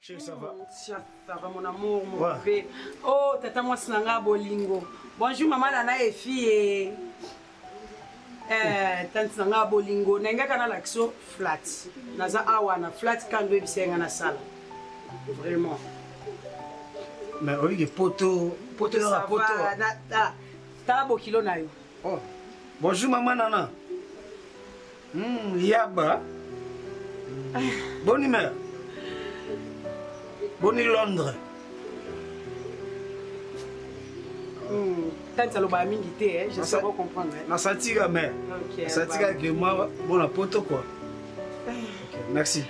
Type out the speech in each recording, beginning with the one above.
Chérie, ça va? Tia, ça va mon amour, mon Ouais. bébé. Oh, tata mwasi na nga bolingo. Bonjour maman na na efi eh. Eh, tante na nga bolingo. Na ngaka na lakso flat. Naza awa na flat kando ebisa nga na sala. Vraiment. Mais au lieu de poteau, poteau Ça là, poteau. va, na- ah, Tala bokilo na yo. Oh. Bonjour maman Nana. Hmm, yaba. Bonne humeur. Bonne Londres. Hmm, tante alobaka mingi te eh, je sais pas comprendre eh. nasatika me nasatika ke mwa mona poto kua merci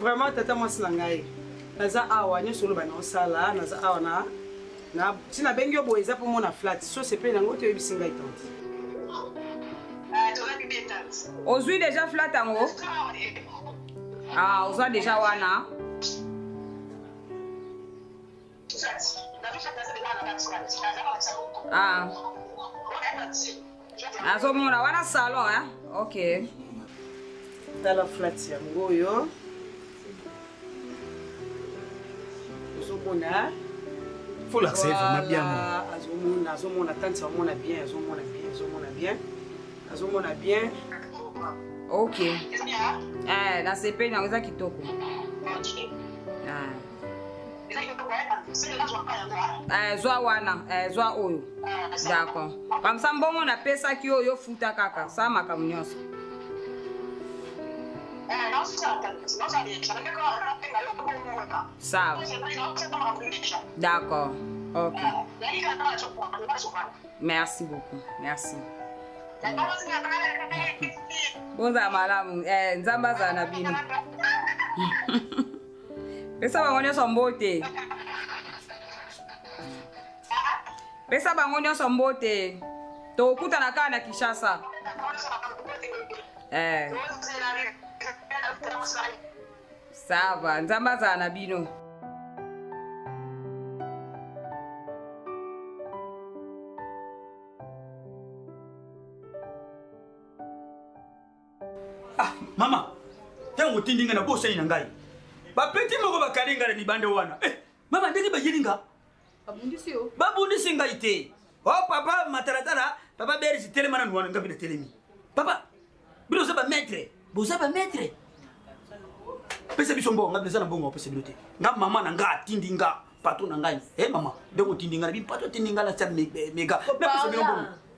vraiment tata mwasi na ngai naza awa nyonso oloba na osala naza awa na Na si na bengi yo boye eza po mona flat. So sepeli na ngo to yebisi ngai tante. Ah, to na bibi tante. Ozui déjà flat yango? Ah, ozwa déjà wana. Ah. nazomona wana salon hein? ok tala flat yango oyo ozomona folakse vraiment bien azomona azomona tanti amona bien azomona bien azomona bien azomona bien ok eh, nasepeli yango eza kitoko ah. Eh, zwa wana eh, zwa oyo d'accord kamsa mbongo napesaki oyo ofuta kaka sa makambo nyonso sawa d'accord ok merci beaucoup merci bozala malamu eh, nzambe azala na bino pesa bango nyonso mbote pesa bango nyonso mbote tokutana kaka na kinshasa eh. sava nzambe azala na bino ah mama ntango otindi ngai na bosani na ngai bapeti moko bakali ngai na libanda wana eh, mama ndenge bayeli nga babundisi ngai te o oh, papa matalatala papa berisi telema nanu wana ngai mpe natelemi papa bino oza bamaitre boza bamaitre pesa biso mbongo ngai mpe eza na mbongo apesa bino te nga mama na ngai atindi nga pato na ngai e mama ndenge otindi ngai na bimpato atindi ngai na sa mega napesa bino mbongo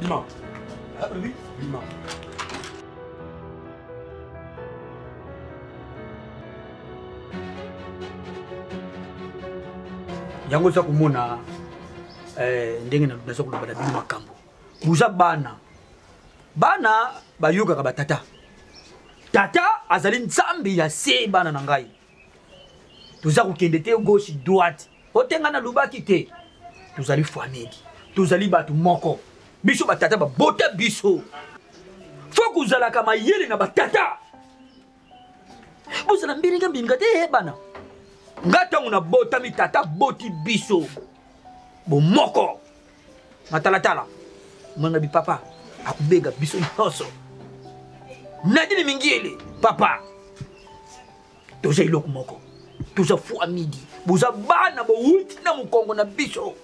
Bima. Ah, oui, Bima. yango oza komona eh, ndenge naza koloba na bino makambo boza bana bana bayokaka batata tata azali nzambe ya se bana na ngai toza kokende te gauche droite otenga nalobaki te tozali famille tozali bato moko biso batata babota biso fo kozalaka mayele na batata bozala mbiringa mbiringa te eyebana nga ntango nabotami tata boti biso bomoko matalatala mwana bipapa akobega biso nyonso nadine mingiele papa toza eloko moko toza fua midi boza bana bowuti na mokongo na biso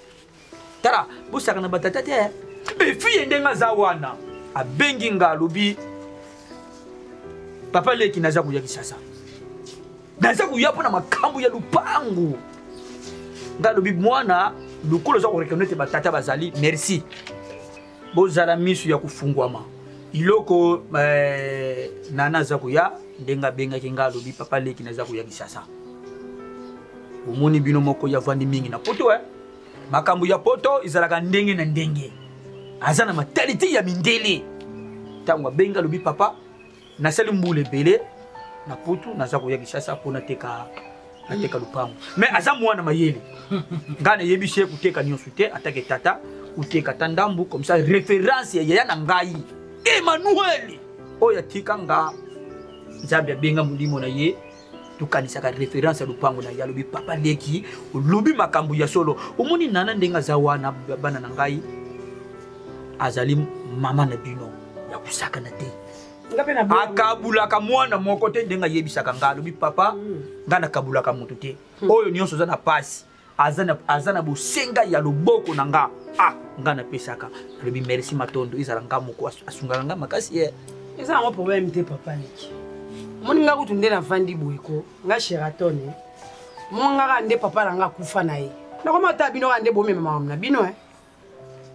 tala bosaka na batata te efiye ndenge aza wana abengi nga alobi papa leki naza koya kisasa naza koya mpo na makambo ya lupangu nga alobi mwana lokola oza korekano ete batata bazali merci bozala miso ya kofungwama iloko eh, nana aza koya ndenge abengaki nga alobi papa leki naza koya kisasa omoni bino moko ya vandi mingi na poto eh? makambo ya poto ezalaka ndenge na ndenge aza na matalite ya mindele ntango abengi alobi papa nasali mbula ebele na putu naza koya kishasa mpo nateka nateka lupango me aza mwana mayele ngai nayebisi ye koteka nyonso te atake tata koteka ta ndambu comme ça référence ya yaya na ngai emmanuel oyo atika nga nzambe abenga molimo na ye tokanisaka référence ya lopango na ye alobi papa leki olobi makambo ya solo omoni nana ndenge aza wana bana na ngai azali mama na bino ya kosakana te akabulaka mwana moko te ndenge ayebisaka ngai alobi papa mm. ngai nakabulaka moto te mm. oyo nyonso oza na pasi aza na, aza na bosenga ya loboko na nga ah nga napesaka nalobi merci matondo ezala nga moko asungaka nga makasi ye eh. eza yango problème te papa leki omoni nga kutu nde navandi boye ko nga sheraton eh. mongaka nde papa na nga akufa na ye nakoma ata bino kaka nde bomema makambo na bino e eh.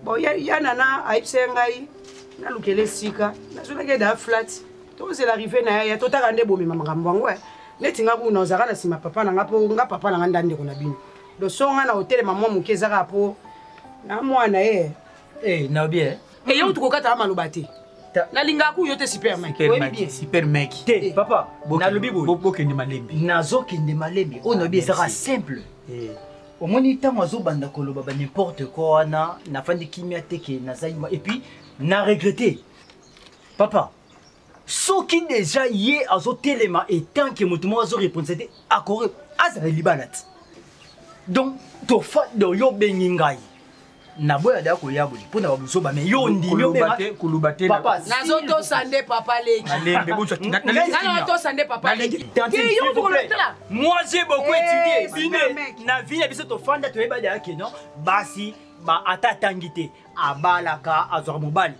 bon ya, ya nana ayebisa ye ngai nalukela esika nazonaki eda flat tozela rive na yaya totaka nde bomema makambo yango eh. neti nga kuna ozalaka na nsima papa na nga mpo nga papa na nga nda ndeko na bino loso nga na otelema mwa moke ezaka mpo na mwana ye hey, eh, naobi eh. eyo tokokataka maloba te nalingaka kuyo te supermec te eh. papa nalobi boye bokende malembe nazokende malembe oyo naobi ezaka simple omoni ntango azobanda koloba ba n'importe quoi wana nafandi kimia te ke naza yuma epuis na regrete papa soki deja ye azotelema etant ke moto moko azorepondisa te akore azala libala ti donc tofado yo obengi ngai naboya da koya boye mpo na babuzoba me yo ondimi kuluba te nazotosa nde papa lekinatosa nde papa lekiyotokolotala moi je beaucoup eh, étudie bino na vie na biso tofanda toyeba dayake non basi ata atangi te abalaka azwaka mobali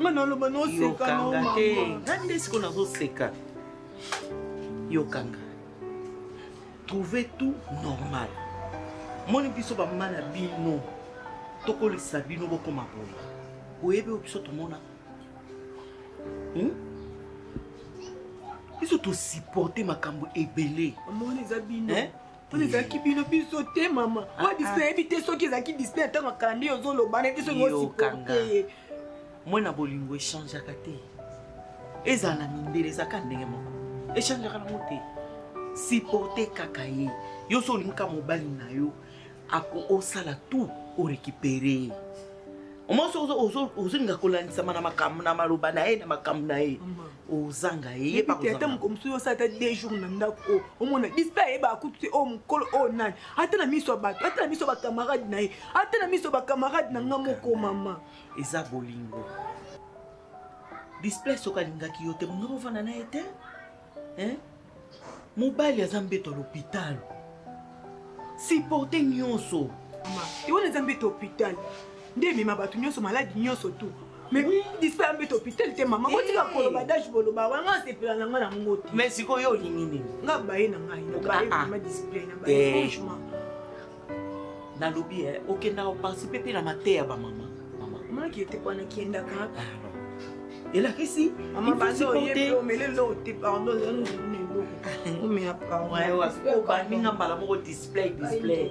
nga naloba nosekayokanga te nga nde siko nazoseka yokanga trouve tout normal moni biso bamama na bino tokolisa bino bokoma boye oyebi oyo biso tomona hmm? biso tosupporte makambo ebele oyo ezalaki bino biso te mama oyo ah, ah. disney nayebi te soki ezalaki disney ntango akalandi yo ozoloba nayebi te soki osiporte ye mwana bolingo echangeaka te ezala na mindele ezalaka ndenge moko echangeaka nango te siporte kaka ye yo so olingaka mobali na yo osala tout orekipere ye omonso ozolinga kolandisama na makambo na maloba na ye na makambo na ye ozanga ye ye pa kozanga ata moko mosusu osa ata deux jours na ndako o oh, omona dispe ayeba akutu te o oh, mokolo o oh, nani ata na miso ya bato ata na miso ya bacamarade na ye ata na miso ya bacamarade na nga moko mama eza bolingo dispe soki alingaki yo te bongo ovanda na ye te mobali aza mbeto ya lopitalo siporte nyonso wana eza mbeto hopitale nde emema bato nyonso maladi nyonso tu mais dispa ya mbeto hopitale te mama botika eh. koloba dage boloba wanga asepela na ngai na ngo te mais sikoyo olingi nini nga baye na ngai na baye ah, ah. vraiment display na baye eh. franchement nalobi eh, okendaka koparticipe mpe na mateya bamama maki ete wana kendaka ah, elakisi mama basi oyebi omele eloko te pardon omela pardonbaninga mbala moko display display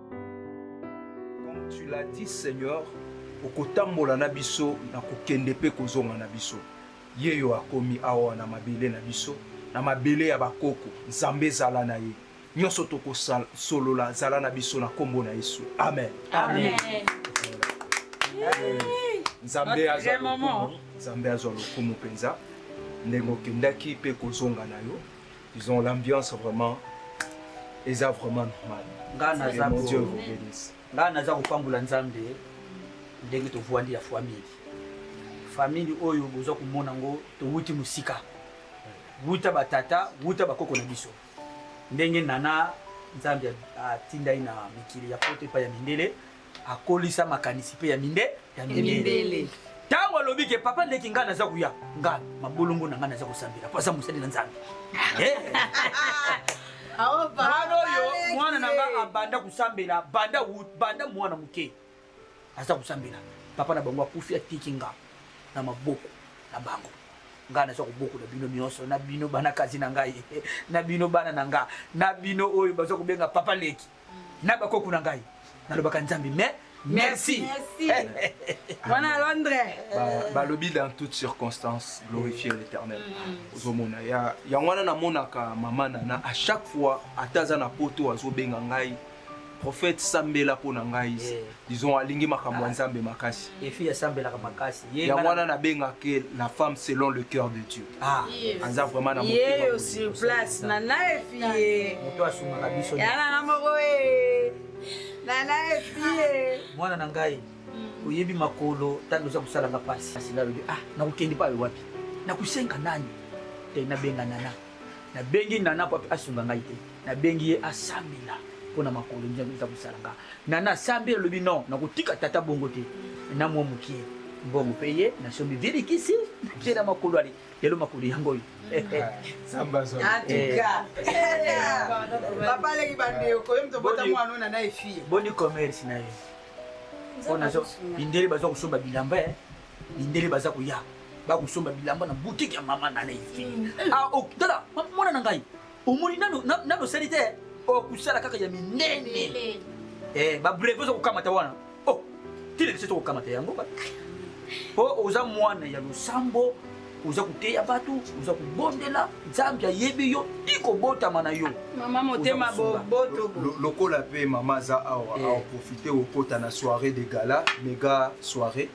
Comme tu l'as dit, Seigneur, okotambola na biso na kokende mpe kozonga na biso ye yo akomi awa na mabele na biso na mabele ya bakoko nzambe ezala na ye nyonso tokosolola zala na biso na nkombo na yesu amen, amen. amen. amen. nzambe azwa lokumu nzambe azwa lokumu mpenza ndenge okendaki mpe kozonga na yo Ils ont l'ambiance vraiment. Ils ont vraiment normal. Ngana za ko. Dieu vous bénisse. Ngana za ko pambola Nzambe ndenge to voandi ya famille. Famille oyo boza ko mona ngo to wuti musika. Wuta ba tata, wuta ba koko na biso. Ndenge nana Nzambe atindai na mikili ya pote pa ya mindele. akolisa makanisi mpe ya minde ya mindele ntango alobi ke papa ndeki ngai naza koya ngai mabolongo na ngai naza kosambela mpo aza mosali na nzambe eh? mwana oyo mwana na ngai abanda kosambela banda banda mwana moke aza kosambela papa na bango akufi atiki nga na maboko na bango ngai naza kobokola bino nyonso na bino bana kazi na ngai na bino bana na ngai na bino oyo baza kobenga papa leki na bakoko na ngai nalobaka nzambe mais merci wana à londres balobi dans toute circonstance glorifier l'éternel mm. ozomona yango wana namonaka mama nana à chaque fois ata aza na poto azobenga ngai prophète sambela mpo na ngai eh. disons alingi makambo ya nzambe makasi efi asambelaka makasi yango wana nabengake la femme selon le cœur de dieu ah. aza vraiment na yeyo sur place nana efi ye moto asungaka biso ya nana moko ye nana efi ye mwana na ngai mm. oyebi makolo ntango oza kosalanga mpasi asi nalobi ah nakokende payo wapi nakosenga nani te nabenga nana nabengi nana po asunga ngai te nabengi ye asambela mpo na makolo nzambe eza kosala nga nana asambi alobi non nakotika tata bongo te na mwa mokie mbongo mpe ye nasombi vilikisi natie na makolo ale lelo makolo yango oyo boni commerce na ye mpo nazo bindele baza kosomba bilamba eh. mindele baza koya bakosomba bilamba na butike ya mama na naifi mm. ah, oh, tala mwana na ngai omoni nano osali te okosala oh, kaka ya minene eh, babreve oza kokamata wana o oh, tilekisi to kokamata yango po oza mwana ya losambo oza koteya bato oza kobondela nzambe ayebi yo ti kobotama na yo mama motema boboto lokola mpe mama aza awa eh. aoprofite okota na soirée de gala mega soirée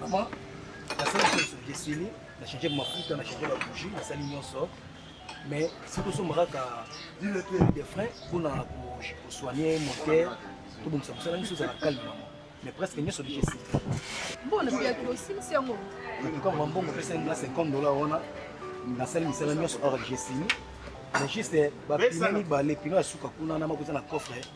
Maman, nasali nyonso esili na change mafuta na change babougi nasali nyonso mais soki osomba kaka de frais mpona kosoigne moteur tobongisa mosala nyonso ezala calme mama mais presque nyonso deja esili mbona biyaki osilisi yango etuka mwa mbongo pesa nga 50 dollar wana nasali misala nyonso or jesini mais juste bapine mibale pino ya suka kuna na makoza na coffre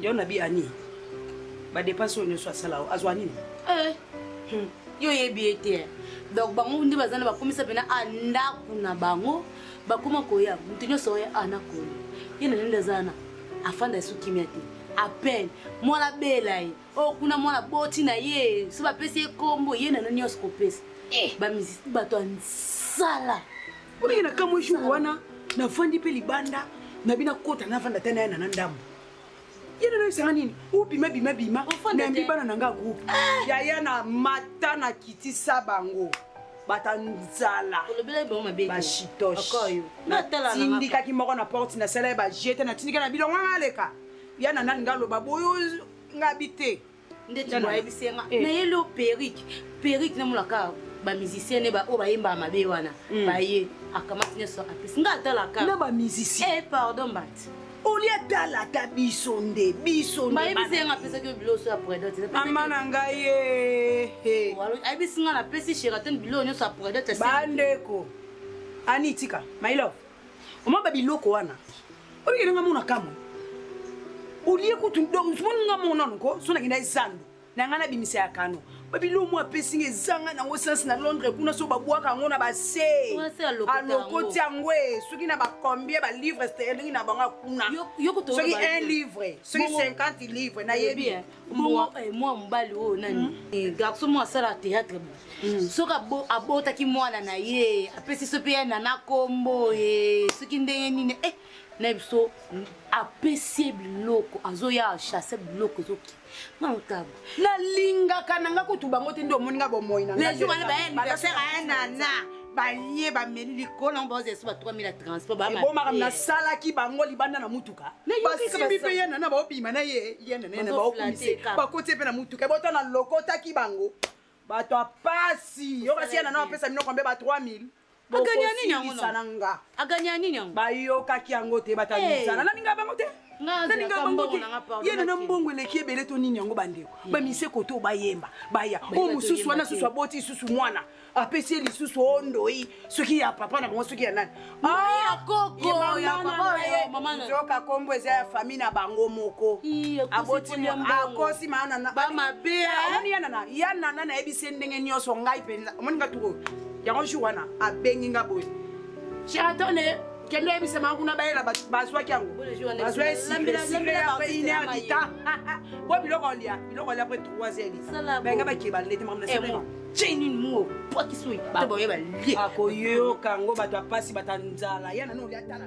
yo na bi ani badepense oyo nyonso asala o azwa nini eh. hmm. yo oyebi ye te donc bango nde baza na bakomisa mpena a ndako na bango bakoma koya moto nyonso oya a na koya ye na nende aza wana afanda esu kimia te apene mwana abela ye oyo oh, kuna mwana boti na ye so bapesi ye nkombo ye na nani nyonso kopesa eh. bato ya nsala Olingi na kamwe jour wana nafandi mpe libanda na bino akota nafanda ata na yana na ndambo ye nano esanga nini obima bima bima nayambi bana na nga groupe eh! yaya na mata na kitisa bango bata nzala bashitoshetindikaki moko na porte nasala ye bajete natindika na bilongo nga aleka ya na nani nga aloba boyo nga bi te ndeti ayebisi ye nga eh. nayeli yo perike perike namonaka bamusicien ne baoyo bayembaka mabe wana hmm. baye akamati nyonso apesi nga atalaka na bamusicien eh, pardon mbati olie atala ata biso nde biso bayebisi yanga apesaki yo bilo oso ya predote mama na ngai ye eh, ayebisi nga napesi sheraton bilo nyonso ya predote bandeko anitika mailove Mama ba biloko wana. Obi kelenga mona kamwe. Olie kutu donc sumoni nga mona nko sona kenda ezando. Na nga na bimisa ya kano. Ba biloko mwa pesi nga ezanga na ngo sens na Londres kuna so ba bwaka ngo na ba se. Alokoti yango e soki na ba combien ba livres sterling na banga kuna. Soki 1 livre, soki 50 livres na yebi. mbwa eh, mwa mobali oyo nani mm. eh, garso mwa asala théâtre mm. soki abotaki mwana na ye apesi so mpe ya nana kombo ye eh, soki ndenge nini e na biso apesi ye biloko azoya achasse biloko ezoki maotabo nalingaka na nga kutu bango te nde omoni nga bomoi na nga le jour wana baye anniversaire ya nana balie bameli likolo yango baozelesa ba 3000 ya transport ebomaka nasalaki bango libanda na motuka basimbi mpe yana na baobima na ye yana na baokumise bakoti mpe na motuka ebota na lokotaki bango bato ya pasi yokasi yana na bapesa minoko mpe ba 3000 aganya nini yango na nga aganya nini yango bayokaki yango te batamisana naninga bango te nalinga bango te ye nana mbongo eleki ebele to nini yango bandeko bamiseko to bayemba baya oyo mosusu wana susu aboti susu mwana apesi ye lisusu o ndoi soki ya papa na bango soki ya nani ah, nzoka kombo eza ya famille na bango moko akosi mayanana ya nana nayebisi ye ndenge nyonso ngai mpenza omoni nga tukoyo yango jour wana abengi nga boye cheratone kende yebisama kuna bayela bazwaki yango bazwa esileainerdita bo biloko olia biloko olia pre 3 heures benga bakeba lete mamna ceni nuo pwakisi oyo te baoye balie akoyoka yango bato ya mpasi bata nzala ya nano olia tala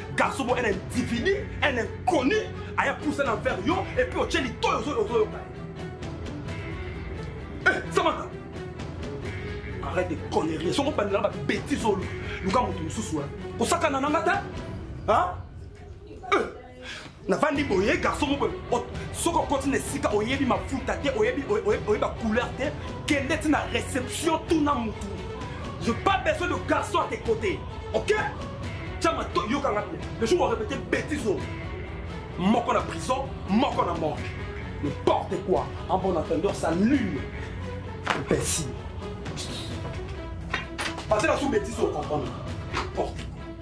garçon bo un individu un inconnu aya pousa na vers yo et puis otie litoyi ozoyoka ye eh, samata arrête de connerie soko bandela babétise olu luka moto mosusu wana kosakana na nga te navandi boye garçon moko soki okoti na esika oyebi mafuta te oyebi oyeba couleur te kende ti na réception tuna mutu je pas besoin de garçon à tes côtés ok tya mato yokanga te le jour orépété bétise oyo moko na prison moko na morgue n'importe quoi en bon entendeur ça nul imbécile parce que la sous bétise oyo comprendre